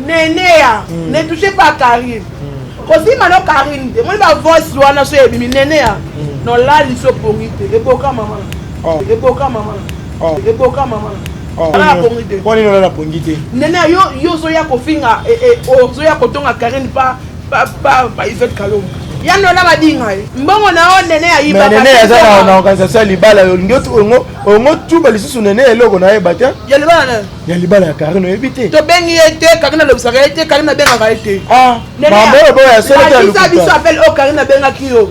neneya hmm. ne touche pas karine hmm. kosima no karine te moni bavoice wana so ebimi neneya hmm. nolali so pongi te eboka mama oh. eboka mama oh. eboka mama oh. mpo nini olala pongi te neneya yo ozoya kofinga eh, eh, ozoya kotonga karine pa Papa, pa Yvette Kalombo. ya nola badinga ye mbongo na yo nene ayiba Mais nene aza na- na organisation ya libala yo olingi otu- ongo- ongo tuba lisusu nene eloko nayeba te ya libala na ya libala ya karine oyebi te tobengi ye te karine alobisaka ye te karine abengaka ye te Ah, Nene, mambo oyo boyo ya solo te ya lakisa biso lokuta appel oyo karine abengaki yo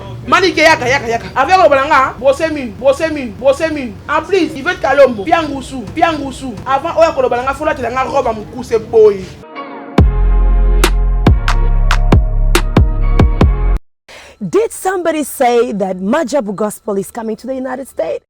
Manike yaka yaka yaka. Avec le balanga, brosse mine, brosse mine, brosse mine. En plus, il veut kalombo, piangusu, piangusu. Avant oya ko le balanga fola telanga robe à mukuse boy. Did somebody say that Majabu gospel is coming to the United States?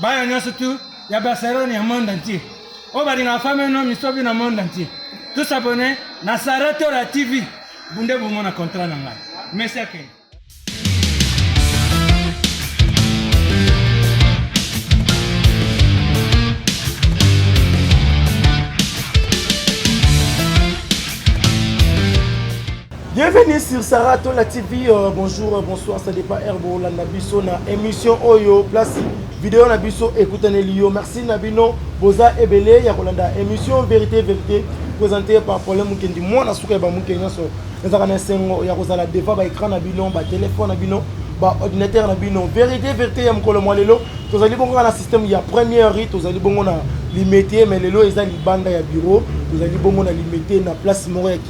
bana nyonso tu ya barcelone ya monde entier oyo balingaka fami no misobi na monde entier tous abonne na sara tora tv bunde bomona contrat na ngai merci akende Bienvenue sur Sarah Tola TV. Euh, bonjour, euh, bonsoir, ça dépend Herbo Landa Bisso na émission Oyo place vidéo na biso ekutane liyo. Merci na bino boza ebele ya kolanda émission vérité vérité présentée par Problème Mukendi. Moi na suka ya ba Mukendi nyonso ezalaka na esengo ya kozala devant ba écran na bino, ba téléphone na bino, ba ordinateur na bino. Vérité vérité ya mokolo mwa lelo tozali bongo na système ya première rite tozali bongo na limete mais lelo eza libanda ya bureau tozali bongo na limete na place moko ya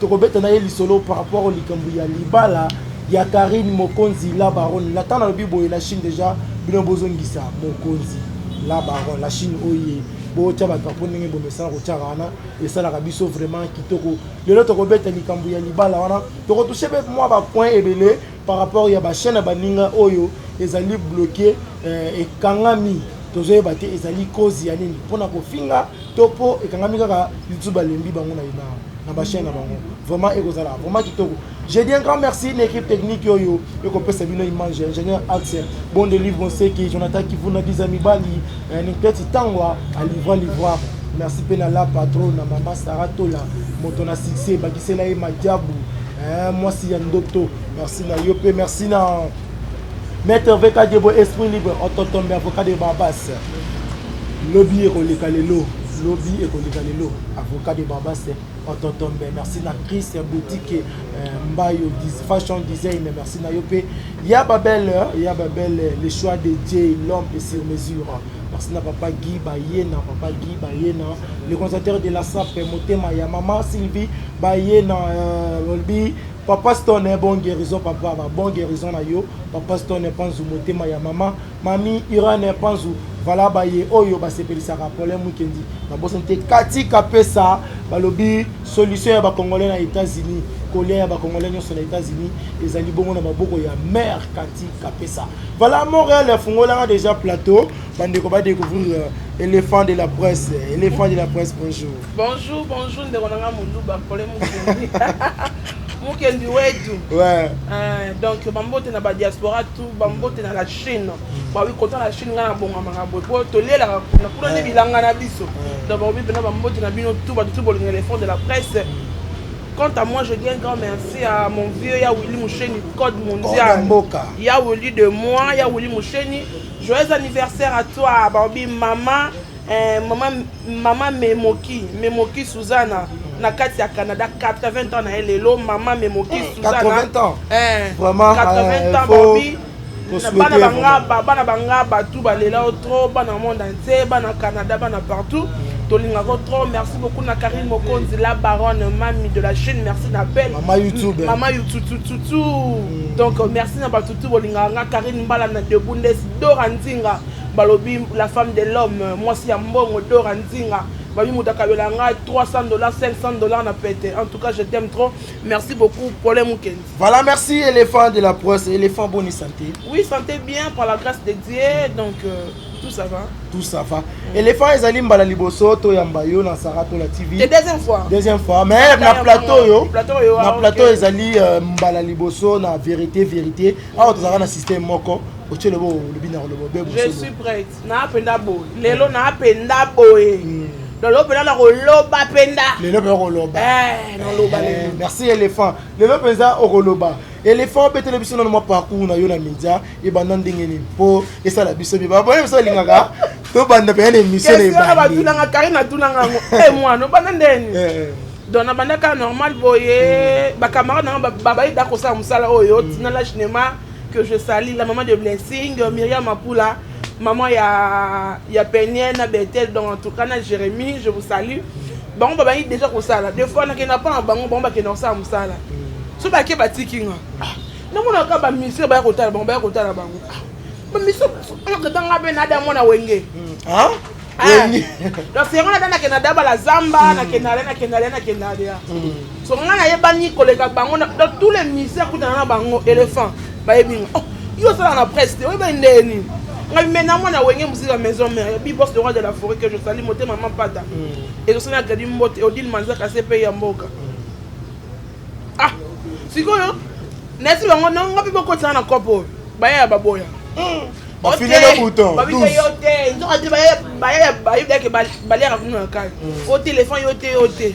tokobeta na ye lisolo par rapport likambo ya libala ya Karine Mokonzi la baronne na ntango nalobi boye na Chine deja bino bozongisa Mokonzi la baronne la Chine oye botya badrapo ndenge bomesana kotyaka wana esalaka biso vraiment kitoko lelo tokobeta likambo ya libala wana tokotushe mpe mwa bapoint ebele par rapport ya ba chaîne ya baninga oyo ezali bloquer euh, ekangami tozoyeba te ezali cause ya nini mpo na kofinga to mpo ekangami kaka litu balembi bango na ina na bachaine na bango vraiment ekozala vraiment kitoko je dis un grand merci na équipe technique oyo ekopesa bino image ingénieur axel bon de livre onseki jonathan kivuna biza mibali eh, nikleti tangwa alivra livroire merci mpe na la patro na mama sara tola moto na succès ebakisela ye madiabu Eh, mwasi ya ndoto merci na yo mpe merci na maître veka diebo esprit libre ototombe avocat de barbas lobi ekoleka lelo lobi ekoleka lelo avocat de barbas ototombe merci na chris boutique eh, mbayo fashion design merci na yo mpe ya babele ya babele le choix de dieu l'homme et sur mesure Merci na papa Guy Bayena, papa Guy Bayena, le conservateur de la SAP, motema ya maman Sylvie Bayena, euh, Olbi, papa Stone, eh, bon guérison papa, bah, bon guérison na yo, papa Stone eh, panzu motema ya maman, mami Irane eh, panzu, voilà baye oyo basepelisaka problème mukendi na bosa te kati kapesa balobi solution ya bakongolais na états-unis kolia ya bakongolais nyonso na états-unis ezali bongo na maboko ya mare kati kapesa Voilà Montréal afungolaka déjà plateau bandeko ba découvrir euh, éléphant de la presse éléphant de la presse bonjour bonjour bonjour ndeko nanga muluba pole mukendi mukendi wetu ouais. euh, donc bambote na badiaspora tout bambote na la chine bawi kota na chine ngai nabongamaka boye po tolelaka kuna kuna nde bilanga na biso donc bakobi mpena bambote na bino tout bato tout bolinga éléphant de la presse quant à moi je dis un grand merci à mon vieux ya willi musheni code mondial mboka ya weli de moi ya weli mosheni joyeux anniversaire à toi baobi mama eh, mama mama memoki memoki suzana na kati ya canada 80 ans na ye lelo mama memoki suzana 80 ans eh, vraiment 80 eh, ans baobi bana bangaba bana banga batou balela yo trop bana monde entier bana canada bana partout tolingaka yo trop merci beaucoup na karine mokonzi la baronne mami de la chine merci na belle mama youtube mama yoututututu mm. donc merci na bato tu bolingaka nga karine mbala na debundes dora nzinga balobi la femme de l'homme mwasi ya mbongo dora nzinga babi moto akabela ngai 300 dollars 500 dollars na pete en tout cas je t'aime trop merci beaucoup pole mokendi Voilà, merci éléphant de la presse. Éléphant, bonne santé. Oui, santé bien par la grâce de Dieu. Donc, euh, tout ça va. Tout ça va. Mm. Éléphant, ils allaient mbala liboso, to yamba yo, na Sarah, to la TV. La deuxième fois. Deuxième fois. Mais ah, na plateau yo. Plateau yo. Na ah, plateau, ils allaient euh, mbala liboso, na vérité, vérité. Ah, tu as un système moko. Je suis prête. Na apenda boy. Lelo na apenda boy. Mm. Donc, l'opéra, la roloba penda. Lelo, la roloba. Eh, na loba. Eh, merci, éléphant. lelo mpenza okoloba elephant obetele biso nano mwa parcours na yo na media ebanda ndenge nini mpo esala biso bie babone biso alingaka tobanda mpenza na émission na ebandi batulanga kari natulanga yango e eh, mwana obanda ndeni eh, eh. donc nabandaka normal boye bacamarade na nga babayida kosala mosala oyo mm. tina la cinéma que je sali la maman de blessing myriam mapula maman ya, ya peniel na betel donc en tout cas na jérémie je vous salue bango babandi deja kosala de fois nakenda mpo na bango bango bakenda kosala mosala so bake batiki nga ah, namonaka bamisre baya kotala bango baya kotala bango ah, bamisokatanga mpe nada mwana wenge hmm. ah? donc yango nada nakenda dabala zamba hmm. nakenda le nakenda le nakenda le so ngai nayebani koleka bango dans tous les misère kutana na bango éléphant bayebi nga oh, yo osala na presse te oyebani ndeye nini ngai me na mwana wenge mosika maison mère bibos le roi de la forêt que je sali motema mampata mm. ezosali na gradi mbote odile manzaka se mpe ya mboka mm. ah sikoyo nayesi bango nanga mpe bokotisana na kopo oyo baya ya baboya mm. babite yo te nzoka te baye bayeke baliaka kuna na kai o telefone yo te yo te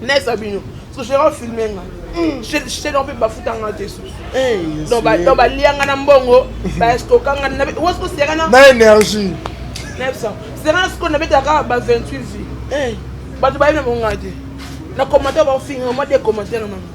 nesa bino soshera ofilme nga shedon mpe bafuta nga te susu donc balia nga na mbongo baestoka nga wasko sera na énergie sera na sikoyo nabetaka kaka ba 28 vie bato bayebi na bonga te na commentaire baofinga mwa de commentaire na bango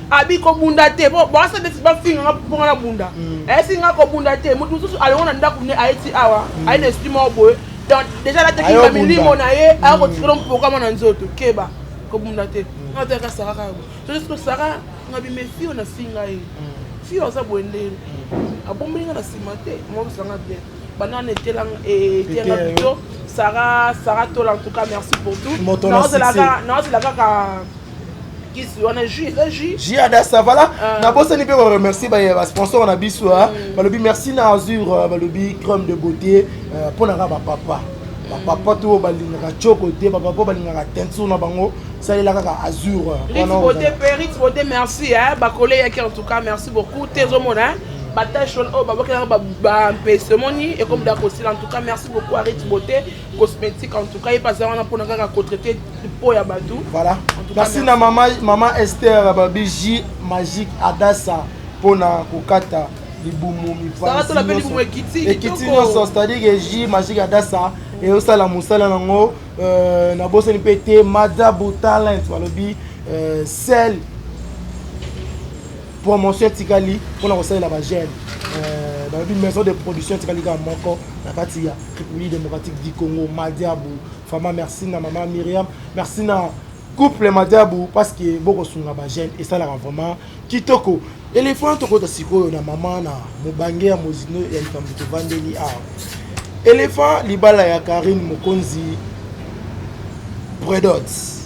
abi kobunda te po bawasa nde bafinga nga mpo nga na bunda mm. ayesi nga kobunda te moto mosusu alongo na ndako ne ayeti awa mm. aye na esudi moko boye donc déjà natekinga milimo na ye aya kotikela mpokama na nzoto keba kobunda te mm. nga toyaka sara kaka boye sososo sara nga bimefi oyo nafinga ye fi oyo aza boye ndeni abombeli nga na nsima te mokosanga bien bana na etelanga etelanga bito sara sara tola en tout cas merci pour tout naozela kaka kisi wana jus eza jus jus ya dasa voilà ah. nabosani mpe koremercie basponsor na biso ah. mm. balobi merci na azur ah, balobi crème de beauté euh, mpo na nga bapapa bapapa mm. to oyo balingaka coko te bapapa balingaka teinture na bango salela kaka azur euh, merci bakole yaki en tout cas merci beaucoup te ezomona batache wana oyo babakela bampese omoni ekomi da kosila en tout cas merci beaucoup arit beauté cosmétique en tout cas epa aza wana mpona kaka kotraite po ya bato voilà merci na mama, mama ester babi ji magique adasa mpona kokata libumu mipaekiti nyonso c'est-à-dire ji magique adasa eyosala mosala yango euh, nabosani mpe te madabu talent balobi euh, sel promotion etikali mpona kosalela ba jeune euh, balobi maison de production etikali kaka moko na kati ya république démocratique du congo madiabu fama merci na mama miriam merci na couple madiabu parce que bokosunga ba jeune esalaka vraiment kitoko elefana tokota sikoyo na mama na mobange ya mozino ya likambo tovandeli awa elefa libala ya karine mokonzi predots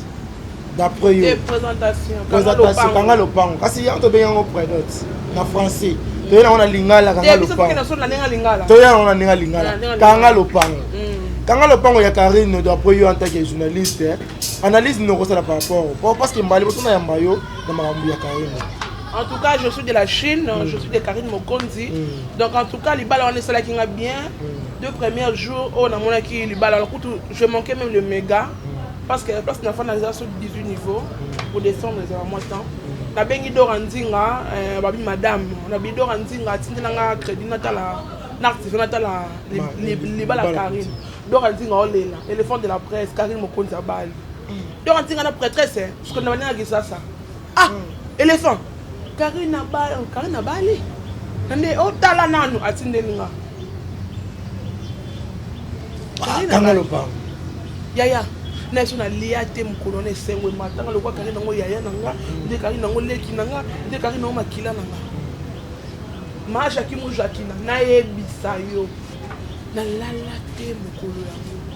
d'après yo présentation kanga lopango kasi yango tobengi yango predote na français toye nango na lingala kanga lopango toye nango na ndenge lingala kanga lopango kanga lopango ya karine d'après yo en tant que journaliste analyse nini okosala par rapport parce que mbali bosona yamba yo na makambo ya karine en tout cas je suis de la chine mm. je suis de karine mokonzi mm. donc en tout cas libala wana esalaki nga bien mm. deux premiers jours oyo oh, namonaki libala kutu Je manquais même le mega parce que la place n'a pas dans sur 18 niveaux pour descendre les moi temps. La bengi dora nzinga euh, babi madame, la bi dora nzinga tindela nga crédit natala n'active natala les les bala Karine. Dora nzinga olela, oh, éléphant de la presse Karine Mokonza Bali. Dora nzinga na prêtresse, hein, parce que na bana ça ça. ah elephant karina ba karina bali nde otala oh, nanu atindeli nga ah, kanga lopango yaya na biso nalia te mokolo na esengo ematanga lokola kari nango yaya na nga nde kari nango leki na nga nde kari nango makila na nga ma jaki mojakina nayebisa yo nalala te mokolo yango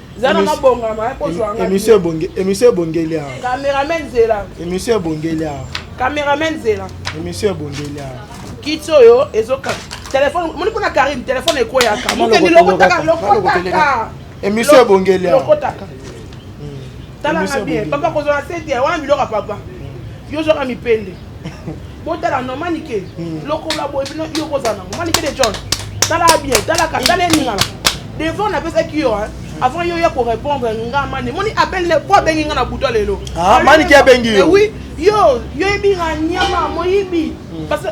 zana mabongama eh, kozwa nga emission ebonge emission ebongeli awa cameraman zela emission ebongeli awa cameraman zela emission ebongeli awa kiti oyo ezoka telefone moni kuna karine telefone ekweyaka mokeni lokotaka lokotaka emission ebongeli awa lokotaka talanga bien papa kozwa na sete wana biloko ya papa yo ozwaka mipende botala no manike hmm. lokola boye bino yo kozala nango manike de john tala bien talaka tala eningana devant napesaki yo avant yo ya korépondre nga mani moni appel ne po abengi nga na buta lelo ah, manike abengi yo eh oui yo yo yebi nga nyama moyibi hmm. parce que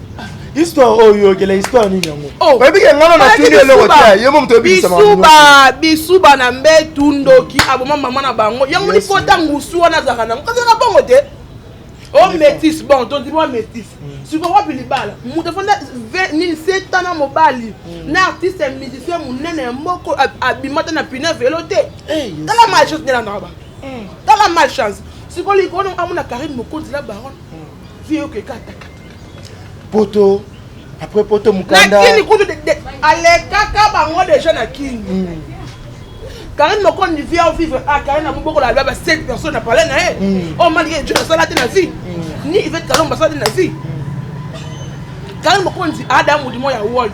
histoire oyo oyokela histoire nini yango oh. oyebi ke ngana na tuni eloko te ye mo moto bisuba bisuba na mbetu ndoki aboma mama na bango yango lipota ngusu wana azalaka nango kazalaka bongo te o oh, métis bon tondi mwa métis mm. siko wapi libala moto afanda nini seta na mobali mm. na artiste musicien monene ya moko abima te na pine velo te eh, tala malchance nelandaka bato mm. tala malchance siko likolo amona karine mokonzi la baronne vieux okekataka poto après poto mukanda kini kutu alekaka bango deja na kini mm. Karine Mokondi vient au vivre à Karine na moboko la baba 7 personnes na parler na ye mm. oh mali ye jona sala te na vie mm. ni Yvette Kalomba sala te na vie Karine Mokondi ada mudimo ya world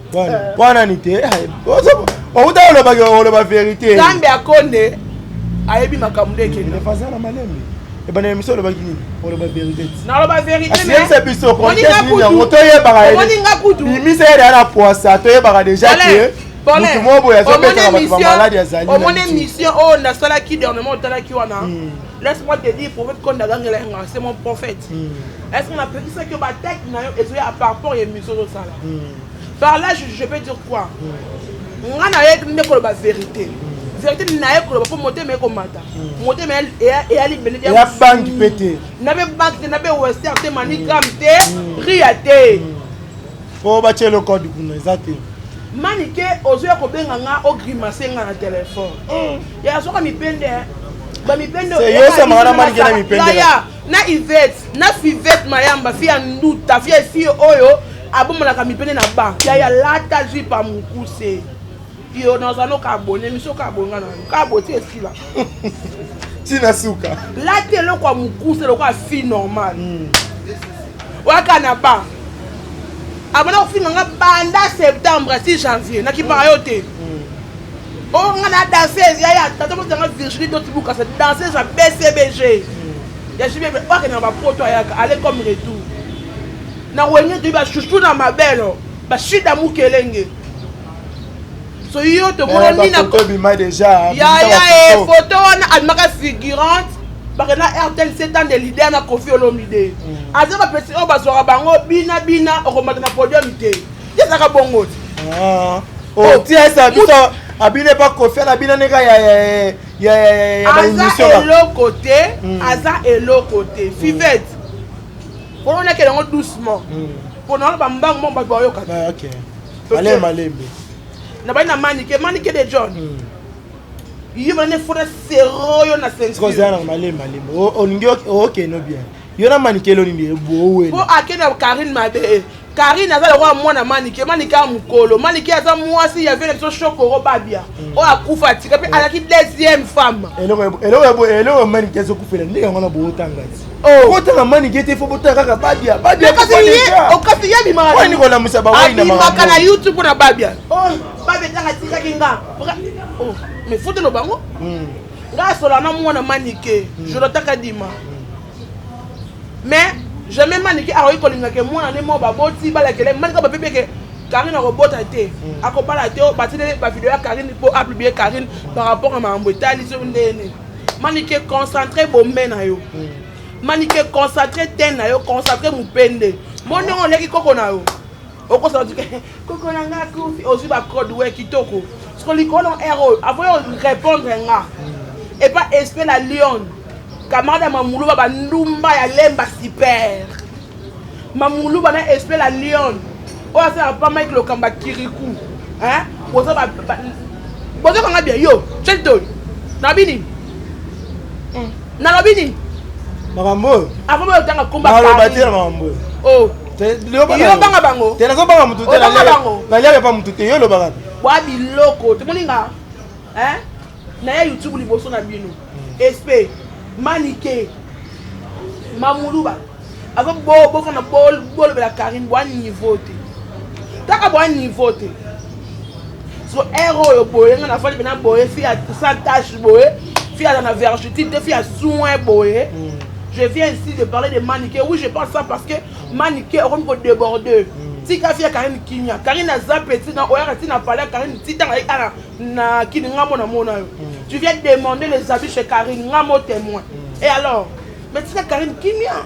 wana ni te outa olobaki oloba verité nzambe akonde ayebi makambo nde ekende fazala malembe ebanda ya miso olobaki nini oloba verité naloba verité biso yango toyebaka kutu bimisa ye deya na poisa toyebaka deja ke mutu moko boye azobetaka bato bamaladi azali omoni émission oyo nasalaki dernièrement otalaki wana laisse moi te dire prophète konda agangela yanga c'est mon prophète hmm. Est-ce que napekisaki yo bataki na yo ezoya par rapport ya émission ozosala par là je peux dire quoi nga naye nde koloba vérité vérité naye koloba mpo motema ekomata motema eyali beneya banki mpe te nabe banki te nabe wester te manigram te ria te mpo batya eloko adi kuna eza te manike ozoya kobenga nga ogrimace nga na telefone ya soka mipende bamipende yosamaka na manike na mipende na Yvette na Fivette Mayamba fille ya nduta fille fille oyo abomanaka mipende na ba yaya lata jupe ya mokuse yo nazala noka abone miso ka abonga na yo ka aboti esila tina suka lata eloko ya mokuse eloko ya fille normal mm. waka na ba abona kofinga nga banda septembre si janvier nakipaka yo te mm. Oh nga na danseuse ya ya tata moto nga Virginie Doti Bukasa danseuse ya BCBG ya JB oke na bapoto ayaka aller comme retour na wenge toyi ba chouchou na mabelo ba shida mukelenge so yo tomonani na ya ya e photo wana almaka figurante bakenda rtl setan de leader na kofi olomide mm. aza bapesi oyo bazwaka bango bina bina okomata na podium te ezaka bongo ti ah. oh, oh, ti esa biso abine pa kofi ana bina neka ya aza eloko te hmm. aza eloko te fivete mpona olaki yango doucement mpona hmm. wana bambangu mo bato bayokaka ah, malemi malembe na bai na manike manike de john hmm. ye bana efona sero yo na sensikozala na malembe malembe olingi okeno bien yo na manike eloni nde boowela mpo akende na karine mabe eh. karine aza lokola mwana manike manike ya mokolo manike aza mwasi ya vie na biso shokoro babia mm. oyo akufa atika mpe alaki deuxième femme eloko manike ezokufela ndenge yango na bootanga ti oh. otanga manike te fo botanga kaka babia babiaokasi oh, ye abimakakolamwisa bawainabimaka na youtube mpo na babia oh, babia tanga tikaki nga mais fotelo bango mm. nga asola na mwana manike mm. jonathan kadima mm. mais jamais manike akoki kolinga ke mwana ne mo baboti balakele manike babebi eke karine akobota te mm. akobala te oh, batindeli bavideo ya karine mpo apiblie karine par rapport ya makambo etali soki ndenge nini manike concentre bombe na yo manike concentre ten na yo concentre mopende mo ndenge oleki koko na yo okosala otika koko na nga akufi ozwi bacode we kitoko soko likolo na r oyo avoye orépondre nga epa esprit la lion camarade ya mamuluba bandumba ya lemba super mamuluba na esprit la lion oyo asala pa mike lokamba kiriku boza bozokanga bien yo chelton nalobi nini hmm. nalobi nini makambo oyo avant boyotanga komba naloba te na makambo oyo oh. yobanga bango te nazobanga motu te naliaka epa motu te yo olobaka bwa biloko tomoni nga naya youtube liboso na bino espe manike mamuluba aza bokana bolobela karine bwa niveau te taka bwa niveau te so ere oyo boye nga na fali pena boye fi ya sans tache boye fi aza na vergitide te fi ya soin boye mm. je viens ici de parler de manike oui je pense ça parce que manike okomi kodéborde mm. tika fi ya karine kimia karine aza petit na oyaka ti na pale ya karine ti tanga ye ana na kini nga mona mona yo mm. tu viens demander les abus chez karine nga mo témoin et alors mais tika karine kimia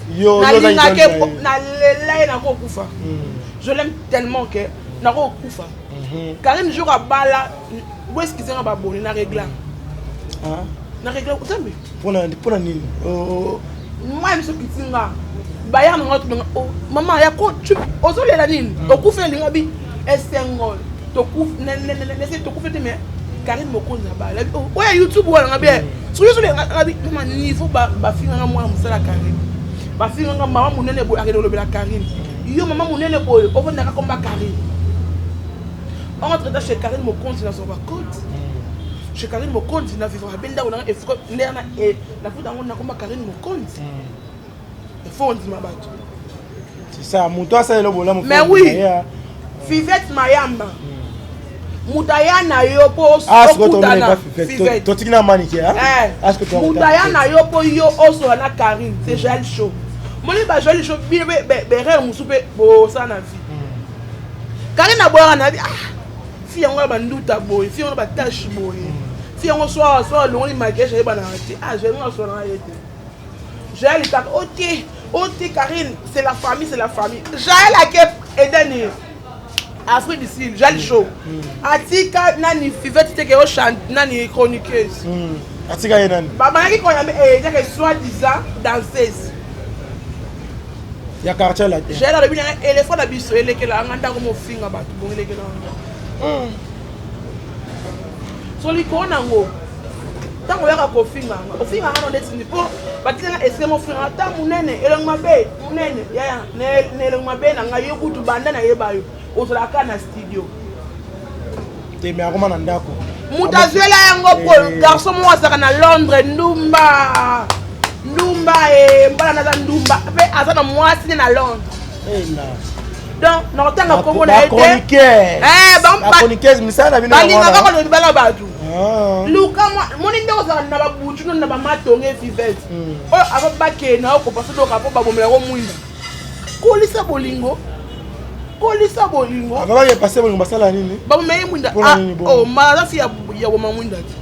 nalingaki nalela ye nakokufa hmm. je l'aime tellement que nakokufa hmm. karine jour abala boeskize nga baboni na regla ah. na regla otambe mpona nini oh, oh. mwa biso kiti nga baya nanga tuna o oh, mama ya ko ozolela nini hmm. okufa elinga bi Esengol tokufi nese tokufi te mais Karine Mokonzi abala oya YouTube wana nga bien soki soki nga bi mama niveau ba ba finga nga mwana musala Karine ba finga nga mama munene boye akende olobela Karine yo mama munene boye ofandaka komba Karine entre temps chez Karine Mokonzi na zoba code chez Karine Mokonzi na vivre ba benda ona efko ndena e na futa ngo na komba Karine Mokonzi mm. il faut ondima bato sisa moto asalela bolamu mais oui fivette mayamba hmm. moto aya na yo mpo ah, okutana totiki na manike eh, moto aya na yo mpo yo osola na karine c'est hmm. joel show moni ba joel show bino mpe berere mosusu mpe bosala na vie hmm. karine aboyaka na vie ah, fi yango ya banduta boye fi yango na batashe boye fi yango soa soa alongoli makiage ayebanaka te ah joel ngo asolanaka ye te Jael kaka o te o te Karine c'est la famille c'est la famille Jael ake edani Afrique du Sud Jael mm. show mm. atika nani Fivette teke o chante nani chroniqueuse mm. atika ye nani bamanaki kona edani eh, soit disant danseuse ya quartier latin Jael alobi na elefo na biso elekela nga ndako mofinga bato bongelekela nga solikoo nango ntango oyaka kofinga nga ofinga nga nonde tindi mpo batiki nga esike mofinga nga ta monene elongi mabe monene yaya na elongi mabe na ngai yo kutu banda nayeba yo ozalaka na studio te me akoma na ndako moto azwela yango po eh. garçon moko azalaka na londres ndumba ndumba e mbala naza ndumba mpe aza na mwasi ne na londres eh, donc nakotanga nkombo na ye tebalingaka kolobi bala bato luka moni nde ozala na babutu no na bamatonge vivete hmm. oyo ava bakee na yo kopasa doka mpo babomela yango mwinda kolisa bolingo kolisa bolingo babomela ye mwinda omalafi ya boma mwinda te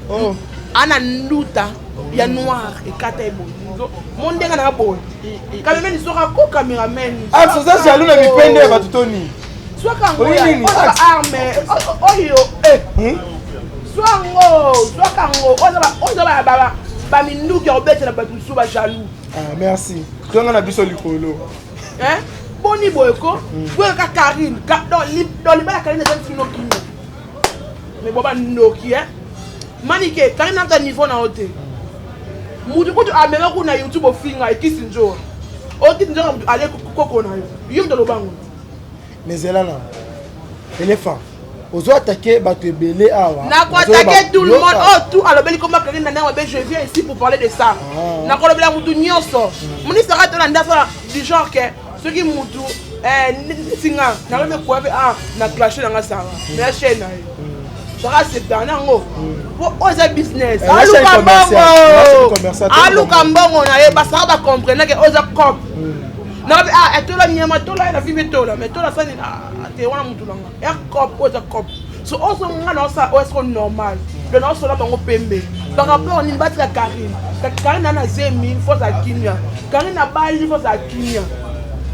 oh. ana nduta ya noir ekata ye boye mo ndenge na boye kamemeni soka ko cameraman axe oza jaloux na mipende ya bato to nini zwaka yango arme oyo zwa yango zwaka yango oza baminduki ya kobetela bato mosusu bajaloux ah, merci zonga na biso likolo boni boye ko boyaka karine don libala karine eza nsino kino mais boba ndoki eh manike kani naka niveau na yo te mutu kutu amema kuna youtube ofinga ekisi nzoa okiti nzoka mutu ale koko na yo yo mutu alobango mais zela na elephant ozo atake bato ebele awa nakoatake tout le monde oyo oh, tout alobeli koma kaki na ndenge mabe je viens ici pour parler de ça ah. nakolobela motu nyonso mm. ministre aka tolanda fana du genre ke soki mutu eh, nsinga nanga mekuape ah, na clashe nanga sanga mm. na chaine na yo zaka septana yango po mm. oyo eza business eh, aluka mbongo aluka mbongo na ye basaka bacomprenake oyo eza cop mm. nanga mpe ah etola nyama tola ye na fimbe tola mai tola sani ah, te wana mutu nanga ecop oyo eza cop so ozo nga na osala oyo esiko normal mpe na osola bango pembe par rapport nini batika karine karine ana zemi fo ozala kimia karine abali fo ozala kimia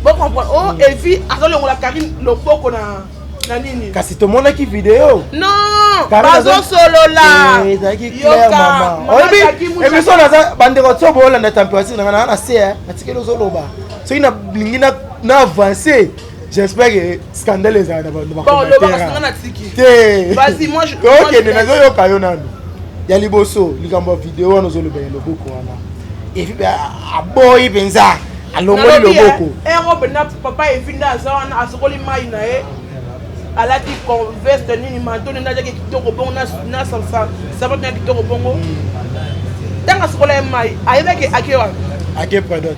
bocomprendre o oh, evi azolongola karine loboko na na nini kasi tomonaki video non bazosolola eh, ezalaki claire mama oyebi emission naza bandeko tso boolanda temperature nanga naa na se natikeli ozoloba soki nalingi na avance J'espère que scandale ezala na bando bakokende nazoyoka yo nanu ya liboso likambo ya video wana ozolobela loboko wana efi mpe aboyi mpenza alongoli loboko erobe na papa efi nde aza wana asokoli mai na ye alati veste nini manto nende ajaki kitoko bongo na sapato na kitoko bongo ntango asokola ye mai ayebaki ake wapi ake pradot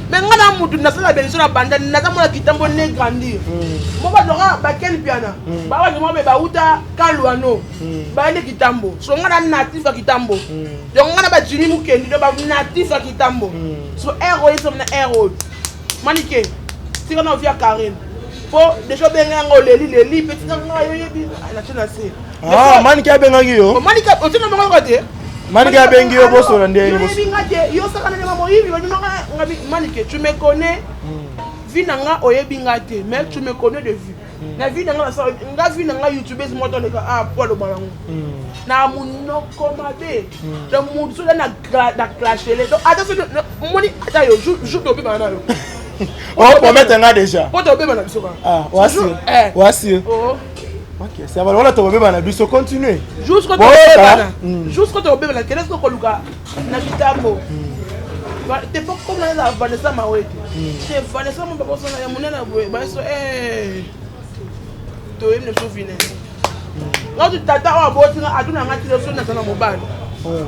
me nga na mutu nasala beniso na banda naza mwana kitambo ne grandir mo bazwaka bakeli piana bawaje mwa me bauta kaluano bayende kitambo so nga na natif ya kitambo donc nga na bajimi mokendi do banatif ya kitambo so ere oyo esomi na ere oyo manike tika na ovia karine mpo deja obenga yango oleli leli mpe tika nga yoyebi natie na se Ah, manike abengaki yo manike otina bango yoka te manike abengi yo bosola nde yebinga te yo saka na ndema moyibi babimaka nga manike tu me connais hmm. vie na nga oyebi nga te mais tu me connais de vue hmm. na vie na nga nasala nga vie na nga youtubeuse moko toleka a ah, po aloba nango hmm. na monoko mabe donc motu soda na clashele donc ata so moni ata yo jour tobimana na yo opromete nga déjà po tobimana biso kaka ah, wasio eh. bakesa bana wana tokobeba na biso continue jusqu'obebana hmm. jusqu'o tokobebana kende soki okoluka na mitambo hmm. te po komona eza vanessa mawete hmm. te vanessa mo babosana ya monene boye bayeso eh. toyebi na biso vine ngati tata oyo aboti nga atuna nga tileso naza na mobali oh.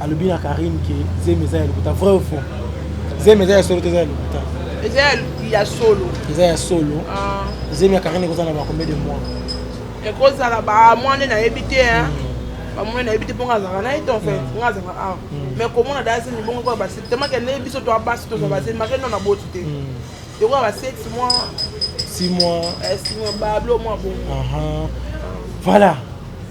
alobi na Karine ke zemi eza ya lokuta vrai ou faux zemi eza ya solo te eza ya lokuta eza ya solo eza ya solo ah. zemi ya Karine ekozala na bakombe de mois ekozala bamwa nde nayebi te mm. bamwa nayebi te mpo nga azalaka na ye te en fait mm. nga azalaka awa mm. mais komona daya zemi bongo koya basili temake nde biso toa basi tozwa basili make no na boti te Lokola ba 7 mois. 6 mois. Eh, 6 mois bablo mwa bongo. Aha. Voilà.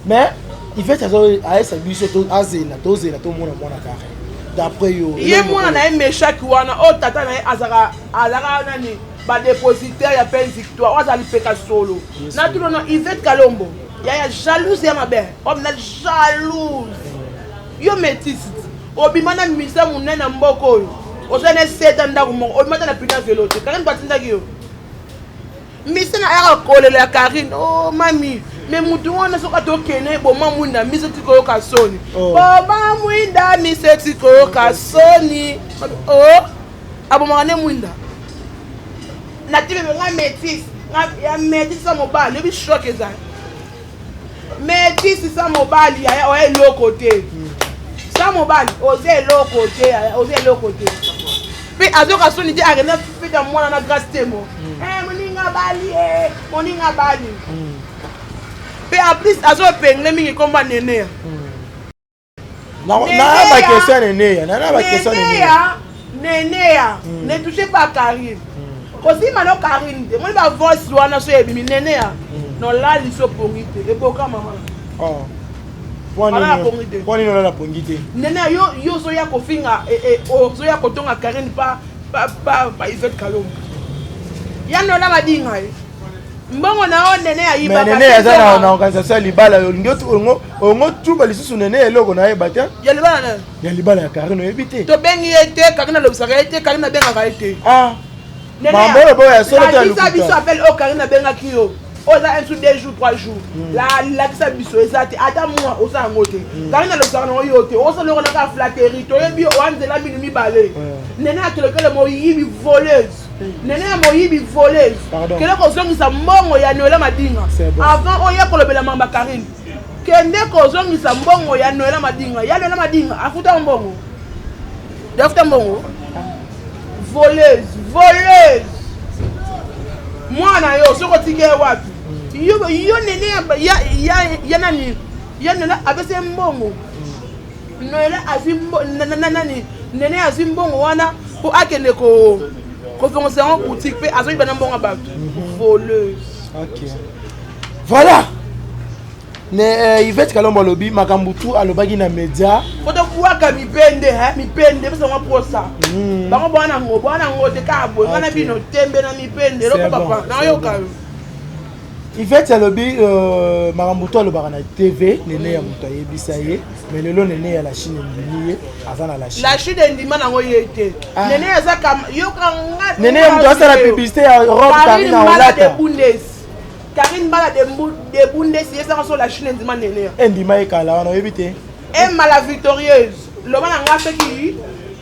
Mais Yvette azo aesa biso to azela to zela to mona mwana kare. D'après yo. Ye mwana na ye meshaki wana o oh, tata na ye azaka azaka nani ba dépositaire ya peine victoire oyo azali peka solo. Na tuno na Yvette Kalombo. Ya ya jalouse ya mabe. Homme na jalouse. Yo métisse. Obima na misa monene ya mboka oyo oza na eseta ndako moko obima ata na pina velo te karine batindaki yo misa na yaka kolela ya karine o oh, mami me motu wana soki ata okende eboma mwinda miso tikoyoka soni oh. boma mwinda miso tikoyoka soni o oh, abomaka nde mwinda natibebe nga metise ya metise ya mobali oyebi shoke ezali mais tisi sa mobali yaya oya eloko te sa mobali oza eloko te yaya oza eloko te mpe azoka soni te akenda feta mwana na grace temo mm. eh, moninga bali e moninga bali mpe mm. en plus azopengle mingi nkombo ya nenea mm. neneya ne touche pas karine kosima no karine te moni bavoice wana so ebimi neneya nolali so pongi te eboka mama mponini olala pongi te nene yo yo ozoya kofinga eh, eh, ozoya kotonga karine pa pa pa pa ivete kalombo ya nola badinga ye mbongo na yo nene ayibaka mais nene aza na, na organisation ya libala olingi ongo ongo tuba lisusu nene eloko na yeba te ya libala na ya libala ya Karine oyebi te tobengi ye te Karine alobisaka ye te Karine abengaka ye te ah mambo oyo boyo ya solo te ya lokuta biso appel oyo oh, Karine abengaki yo oza oh, un sous deux jours trois jours hmm. la lakisa biso eza te ata mwa oza yango te hmm. Karine alobisaka nango yo te oza lokola kaka flatterie toyebi oanzela minu mibale hmm. nene atolokele moyibi voleuse nene ya moyibi voleuse kende kozongisa mbongo ya noela madinga avant oya kolobela mamba karine kende kozongisa mbongo ya noela madinga ya noela madinga afuta mbongo afuta mbongo voleuse voleuse mwana yo soki otiki ye wapi yo nene ya nani ya noela apesa ye mbongo Noela azwi mbo- na- na- na- nani nene azwi mbongo wana mpo akende ko kofongisa yango boutique mpe azongi bana mbongo ya bato voleuse ok voilà ne eh, ivete kalombo alobi makambo tu alobaki na media mpo tobwaka mipende he mipende epesa yango mposa Mm. bango bwana yango bwana yango te kaka boye wana Ok. bino tembe na mipende eloko C'est bon, papa c'est nayoka bon. yo Yvette alobi euh, makambo to alobaka na TV nene ya moto ayebisa ye mais lelo nene ya la Chine endimi ye aza na la Chine. La Chine endima nango ye te. Ah. Nene aza kam yoka nga. Nene ya moto asala publicité ya robe Karine na olata. Karine Mbala de de Bundes ye saka so la Chine endima nene. Endima ye kala wana oyebi te. Emma la victorieuse loba na nga soki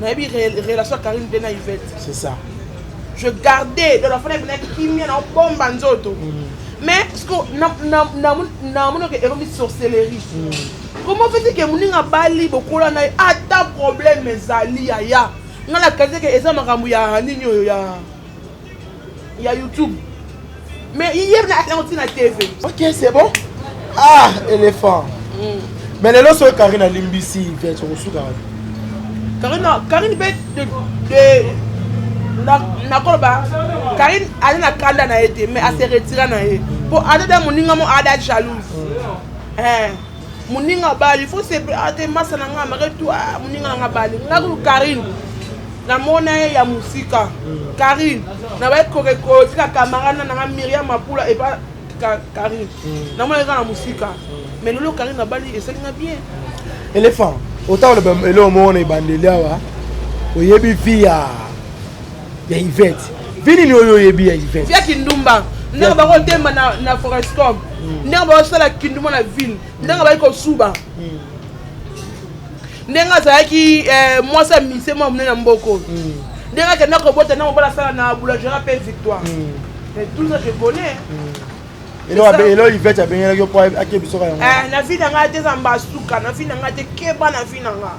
Nayebi relation ya Karine mpe na Yvette. C'est ça. Je gardais dans la fenêtre na kimia na bomba nzoto. Mm. Mais ce que na na na na mono que eromi sorcellerie. Mm. Comment fait que muninga bali bokola na ata problème ezali yaya. Nga na kaze que eza makambo ya nini oyo ya ya youtube mais iye nayango ntina tv ok c'est bon ah éléphant mm. mais lelo soki karine alimbisi vete okosuka karine karine mpe nakoloba karine aza na kanda na ye te mais ase retira na ye mpo adada moninga mo ada jalouse mm. eh. muninga bali faut se ah, te masa na nga mare tu ah, muninga na nga bali nga ku Karine na mona ye ya musika Karine na ba ko ko tika camarade na nga Myriam Mapula et pas Karine hmm. na mona ye na musika hmm. mais lolo Karine na bali esali nga bien éléphant otawoloba eloko moko na ebandeli awa oyebi fia ya Yvette vie nini oyo oyebi ya Yvette ya kindumba ndenge bango temba na, na forescom mm. ndenge baosala kindumba na ville ndenge bayi kosuba mm. ndenge azalaki eh, mwasi ya mise mwa monene na mboko mm. ndenge akenda kobota ndenge mobala asala na boulangera mpe victoire mais tout ça je connais elo ivete abengelaki yo mpo akebisoka yango eh, na vi na ngai te eza mbasuka na vi na ngai te keba na vi na ngai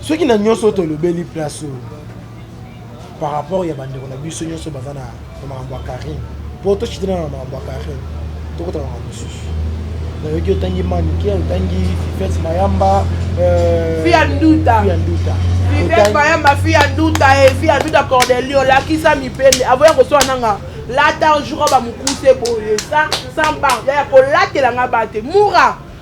soki na nyonso oyo tolobeli place oyo par rapport ya bandeko na biso nyonso baza na makambo ya carine mpo tocitana na makambo ya carine tokota makambo mosusu nayoki otangi manike otangi fifete mayamba euh, fia nduta fifete mayamba fia nduta e eh, fia nduta cordelio olakisa mipende avoya koswana nanga lata jour bamokuse boye sans barbe ya kolatela nga bate mura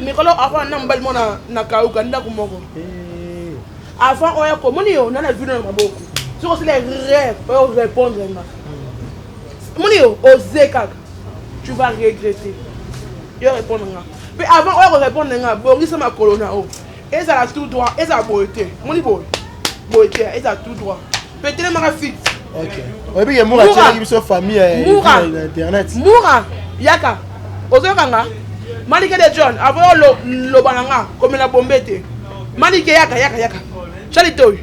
mikolo avant na mobali mona na kauka ndako moko eh. avant oya komoni yo na na vino na maboko soki osila rêve oyo répondre nga moni yo oze kaka tu vas regretter yo répondre nga mpe avant oya korépondre nga bongisa makolo na o ezala tout droit ezala boye te moni boye boye te ezala tout droit petelemaka fit oyebi ke mura atyelaki biso famille ya internet mura yaka ozoyoka nga malike de john avoyo loba na nga komela bombe te malike yaka yaka yaka cali toy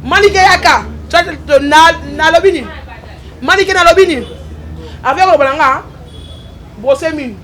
malike yaka cali to nalobi nini malike nalobi nini avoyo loba na nga brose mini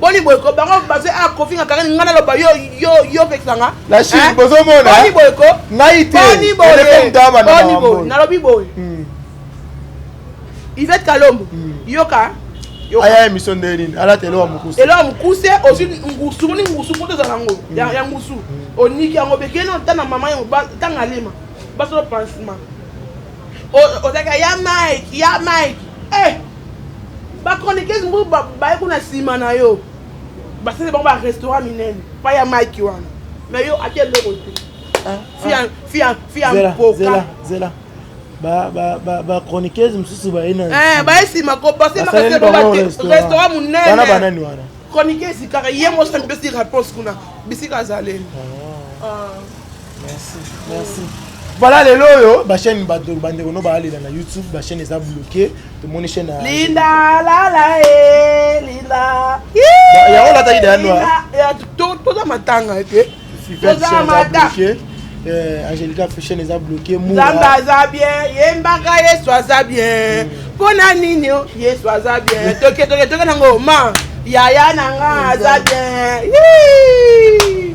boni boyeko bango bazo a kofinga kangani ngai naloba yo yo yo pekisa nga na chine bozomona boni boyeko ngai te boni boye boni boye nalobi boye hmm. Yvette Kalombo hmm. yoka aya emission nde nini alata elo ya mokuse elo ya mokuse ozwi ngusu moni ngusu mpo tozala yango hmm. ya ngusu oniki yango bekeli ota na mama yango ntanga alema basolo pansement ozalaka ya mike ya mike eh Ba chroniqueuse moko ba baye kuna sima na yo. Basali bango ba restaurant minene. Pa ya Mike wana. Mais yo ate loko te. Ah, fia ah. fia fia mpoka. Zela zela. Ba ba ba ba chroniqueuse mususu ba ina. Eh, ba sima ko passer ma kase ba restaurant minene. Bana bana ni wana. Chroniqueuse kaka yemo sa mpesi réponse kuna. Bisika zaleli. Ah. ah. Merci. Merci. Voilà lelo oyo ba chaîne ba do bande kono ba alela na YouTube ba chaîne eza bloqué to moni chaîne Linda la la eh Linda. Ya ola ta ida noa. Ya to to za matanga ke. To za matanga. Euh, Angelica Fisher eza bloqué Moura. Nzambe aza bien, yembaka Yesu aza bien. Mm. Mpo na nini Yesu aza bien? Toke toke toke nango ma. Yaya na nga aza bien. Yee!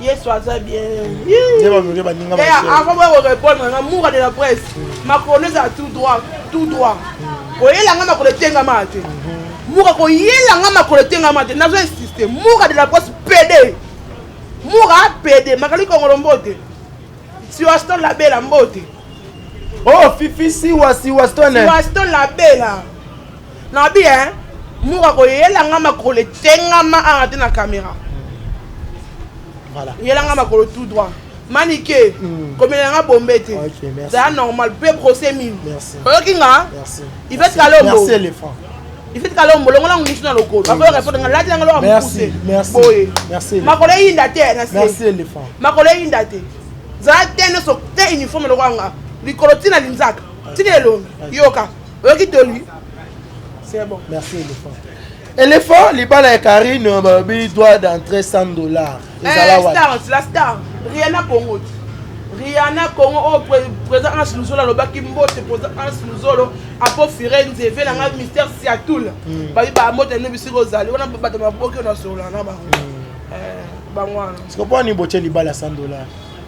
yesu aza bienavant boya korepondre nga moura de la presse makolo ezala tout droit tout droit koyela nga makolo etengama te moura koyela nga makolo etengama te nazo insiste moura de la presse pede moura pede makali kongolo mbote siwaston labela mbote oh fifi siwa siwaston siwaston labela Na bi hein muka ko yela nga makolo etengama awa te na camera. Voilà. Yela nga makolo tout droit. Manike, mm. komela nga bombe te. Okay, merci. Ça normal, peu procès mille. Merci. Oyoki nga? Merci. Il fait kalombo. Merci éléphant. ifiti kala ombolongo na ngusu na lokolo bakoyo reponde nga lati nanga loka mokuse boye makolo eyinda te na se makolo eyinda te zala te nyonso te uniforme lokola nga likolo ntina linzaka ntina elongi yoka oyoki toli c'est bon merci elephant elephant libala ya karine euh, balobi droit d'entrée 100 dollar ezala eh, wapi la star riana congo riana congo oyo oh, président hans luzolo alobaki mbote président hans luzolo apo firenze ve na ngai mystère siatoul hmm. babi bambote no bisika ozali wana bato maboki oyo nasolola na bango hmm. eh, bango wana sikoponi botie libala 100 dollar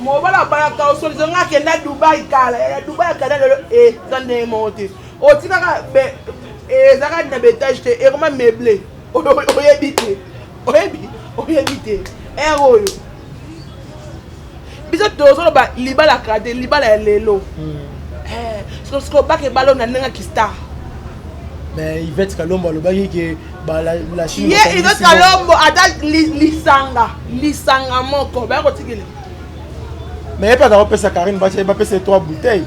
mobala abalaka osolizo nga akenda dubai kala ya dubai akenda lelo eza eh, ndenge moko te otikaka eh, ezaka na betage te ekoma meuble oyebi te oyebi oyebi te ere oyo biso tozoloba libala kala te libala ya lelo hmm. eh, sikoyo baka ebala na ndenge kistar mais ivete kalombo alobaki ke ye ive kalombo ata lisanga lisanga moko baya kotikela mais ye mpe aza kopesa karine bapesa ye trois bouteille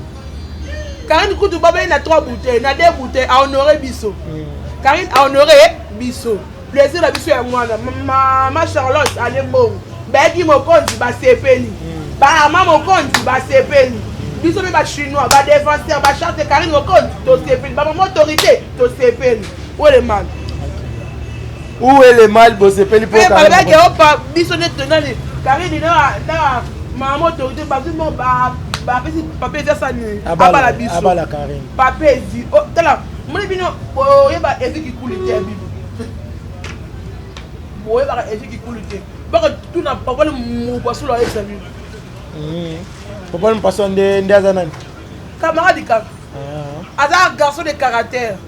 karine kutu babei na trois bouteille na deux bouteille ahonore biso hmm. karine ahonore biso plaisir na biso ya mwana mama charlotte ale mbongo bayaki mokonzi basepeli hmm. bama mokonzi basepeli biso mpe bachinois badefenseur bacharte karine mokonzi tosepeli bamama autorité tosepeli Weleman. Weleman bosepeli po ka. Baba ke opa biso ne tonali. Karine na na mama autorité ba tout monde ba ba pesi papier eza sani. Abala biso. Abala Karine. Papier zi. Oh, tala. Moni bino oyeba evi kikuli te ya bibi. Oyeba evi kikuli te. Baka tuna papa le mubasula ayebisa bino. Mm. Papa le mpaswa nde nde aza nani? Camarade kaka. Ah. aza garçon de caractère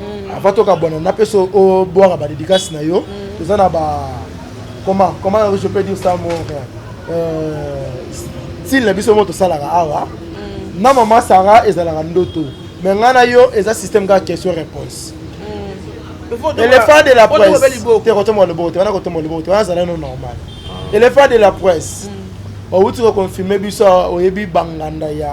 mm. avant tokabwana napesa obwaka badedikasi na yo mm. toza na ba comment comment je peux dire ça mon frère euh, style na biso mo tosalaka awa mm. na mama sara ezalaka ndoto me ngai na yo eza système kaka question réponse elephant de la presse te kotomboka loboko te wana kotomboka loboko te wana azala no normal elephant de la presse outi koconfirme biso oyebi banganda ya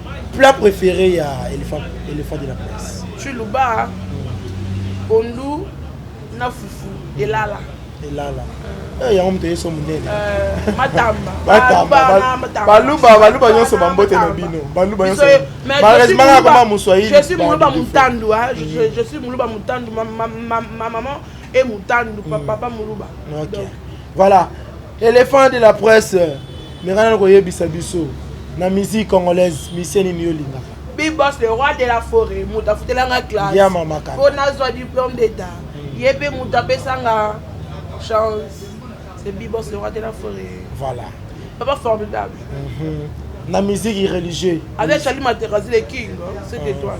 Plat préféré ya elephant, elephant de la presse. Chuluba, pondu na fufu elala. Elala. Eh, yango moto yeso monene euh, matamba baluba baluba nyonso bambote na bino baluba nyonsomalheureusement nakoma moswahili je suis muluba mutandu mm. je suis muluba mutandu ma maman e mutandu mm. papa muluba Voilà, elephant de la presse, mais rien à koyebisa biso na musique congolaise, mission nini yo lingaka? Big Boss le roi de la forêt, moto afutelanga classe. Ya mama kaka. Mpo nazwa diplôme d'état. Mm. Ye mpe moto apesanga chance. C'est Big Boss le roi de la forêt. Voilà. Papa formidable. Mm -hmm. Na musique religieuse. Avec Charlie Materazzi le king, hein, cette mm. étoile.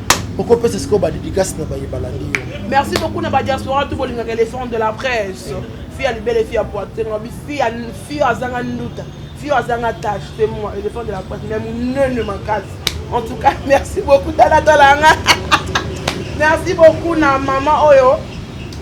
okopesa sikoyo badidikasi na baye balandi yo merci beaucoup na badiaspora to bolingaka elephant de la presse fi ya libele fi ya poitenga fi ya azanga nduta fi yo azanga tache te moi elephant de la presse me monene makasi en tout cas merci beaucoup talatala nga merci beaucoup na mama oyo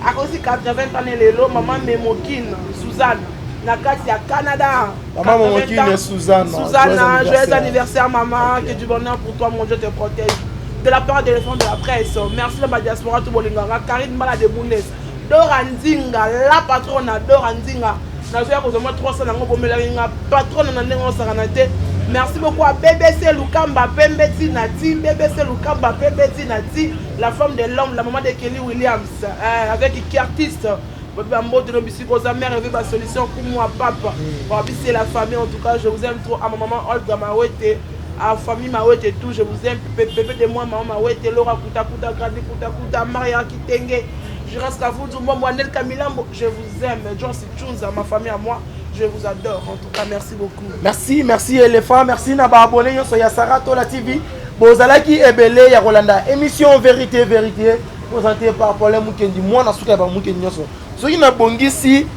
akosi 80 ans lelo mama memokine suzanne na kati ya canada Maman mon kine Suzanne. Suzanne, joyeux anniversaire maman, que du bonheur pour toi, mon Dieu te protège. De la part de l'enfant de la presse, merci la diaspora tout bolinganga, Karine Mala de Bundes, Dora Nzinga, la patronne Dora Nzinga. nazoya kozwa mwa 300 yango bomelaki nga patrone na ndenge osakana te merci beaucoup à bbc lukamba pembe ti na ti bbc lukamba pembe ti na ti la femme de l'homme la maman de kelly williams euh, avec kiartiste Bobi Bambote no bisika oza mère eveille ba solution kumwa papa wabise la famille en tout cas je vous aime trop à ma maman Olga Mawete à famille Mawete tout je vous aime pepe de moi maman Mawete Laura Kuta Kuta Grandi Kuta Kuta Maria Kitenge je reste à vous du moi moi Nelka Milambo je vous aime John Sichunza ma famille à moi je vous adore en tout cas merci beaucoup merci merci éléphant merci na ba abonné yo ya Sarah Tola TV bozalaki ebele ya kolanda émission vérité vérité oza te par rapport ya mukendi mwana suka ya bamukendi nyonso soki nabongisi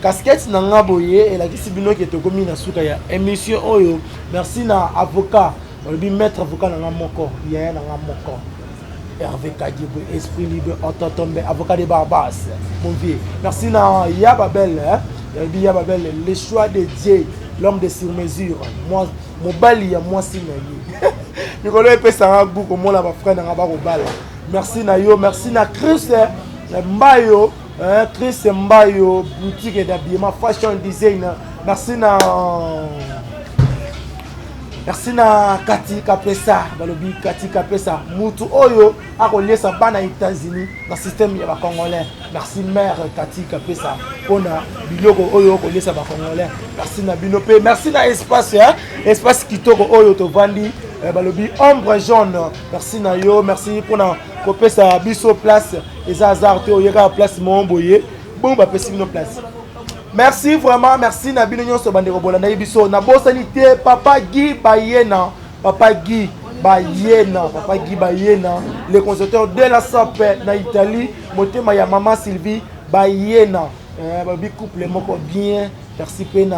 kaskete na nga boye elakisi bino ke tokomi na suka ya émission oyo merci na avocat olobi maître avocat na nga moko yaya na nga moko herve kadibo esprit libre ototombe avocat de barbas mon vieux merci na ya babele olobi ya babele le choix de dieu l'homme de sur mesure mobali ya mwasi na ye mikolo epesanga gu komona bafrai na nga bakobala merci na yo merci na chris eh, mbayo eh, chris mbayo boutique d'habillement fashion design merci na merci na kati kapesa balobi kati kapesa mutu oyo akoliesa bana états-unis na systeme ya bacongolais merci mare kati kapesa mpona biloko oyo okoliesa bacongolais merci na bino mpe merci na espace eh? espace kitoko oyo tovandi eh, balobi ombre jaune merci na yo merci mpo na kopesa biso place eza hasard te oye kaka place moko boye bongo bapesi bino place merci vraiment merci na bino nyonso bandeko bolandaki biso nabosani te papa gi bayena papa gi bayena papa gi bayena le conservateur de la sape na italie motema ya mama sylvie bayena eh, babi couple moko bien Merci pena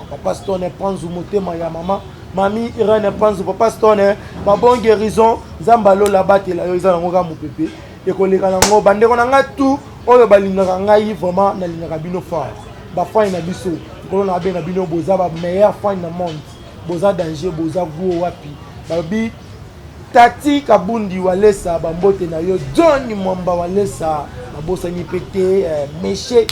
papa Stone panzu motema ya mama mami Irene panzu papa Stone ba bon guérison nzamba lola batela yo eza nango ka mopepe ekoleka nango bandeko na ngai tout oyo balingaka ngai vraiment nalingaka bino fort bafani na biso nkolo na abenga bino boza ba meilleur fani na monde boza danger boza guo wapi balobi Tati kabundi walesa ba mbote na yo John mwamba walesa na bosani pe te meshe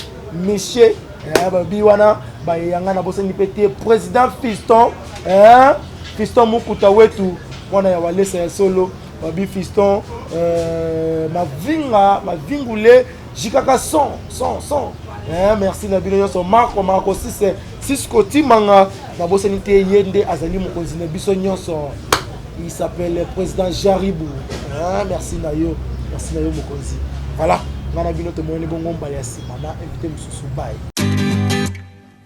meshe eh, ba bi wana ba yanga na bosani pe te president Fiston eh, Fiston mukuta wetu mwana ya walesa ya solo babi fiston euh, mavinga mavingule jikaka son son son eh, merci na bino nyonso marco marco sise sisko timanga nabosani te ye nde azali mokonzi na biso nyonso il s'appelle président jaribu eh, merci na yo merci na yo mokonzi voilà ngai na bino tomonani bongo mbala ya nsima na invité mosusu baye